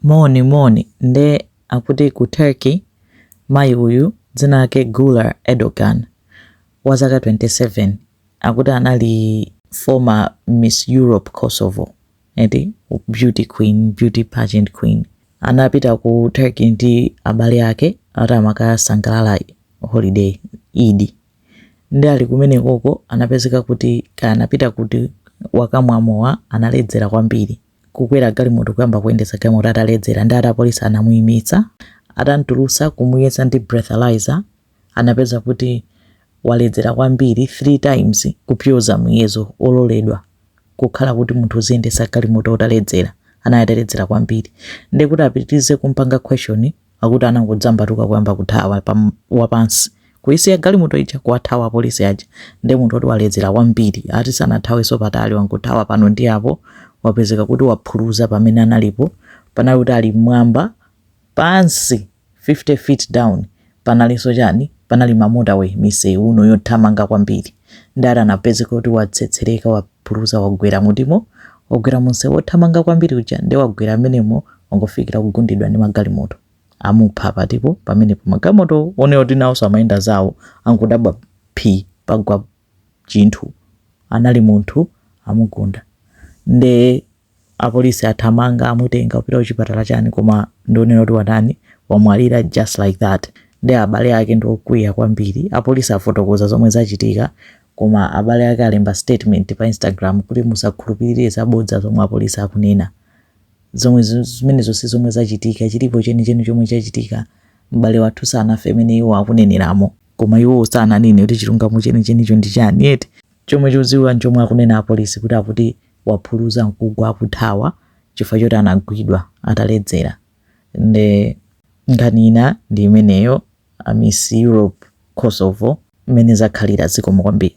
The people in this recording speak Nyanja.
Moni moni nde akuti ku Turkey mayi uyu dzina lake Güler Erdogan wa zaka 27 akuti anali former Miss Europe Kosovo ati beauty queen beauty pageant queen anapita ku Turkey ndi abale ake ati amakakasangalala holiday Eid nde ali kumenekoko anapezeka kuti kaya anapita kuti wakamwa mowa analedzera kwambiri kukwera galimoto kuyamba kuyendetsa galimoto ataledzera ndi ati apolisi anamuyimitsa atamtulutsa kumuyesa ndi breathalyzer anapeza kuti waledzera kwambiri 3 times kupyoza muyezo ololedwa kukhala kuti munthu uziyendetsa galimoto utaledzera anali ataledzera kwambiri ndekuti apitirize kumpanga question akuti anangodzambatuka kuyamba kuthawa wapansi kuisiya galimoto ija kuwathawa apolisi aja ndi munthu oti waledzera kwambiri ati sanathawenso patali wangothawa pano ndi apo wapezeka kuti waphuluza pamene analipo panali kuti ali mmwamba pansi 50 feet down panalinso chani panali ma motorway misewu uno yothamanga kwambiri ndi ati anapezeka kuti watsetsereka wa Phuluza wagwera mutimo, wagwera munsewu wothamanga kwambiri uja nde wagwera amenemo wangofikira kugundidwa ndi magalimoto. Amupha patipo pamenepo magalimoto one oti nawoso amayenda zawo angodabwa phi pagwa chinthu anali munthu amugunda nde apolisi athamanga amutenga kupita kuchipatala chani koma ndionera kuti watani wamwalira just like that nde abale ake ndiokwiya kwambiri apolisi afotokoza zomwe zachitika koma abale ake alemba statement pa instagram kuti musakhulupirire zabodza zomwe apolisi akunena zomwe zi- zimenezo si zomwe zachitika chilipo chenicheni chomwe chachitika m'bale wathu sanafe mmene iwo akuneneramo koma iwo sananene kuti chilungamo chenichenicho ndi chani eti chomwe chodziwika nchomwe akunena apolisi kuti akuti waphuluza nkugwa akuthawa chifukwa choti anagwidwa ataledzera nde nkhani ina ndi imeneyo a miss europe kosovo mmene zakhalira zikomo kwambiri.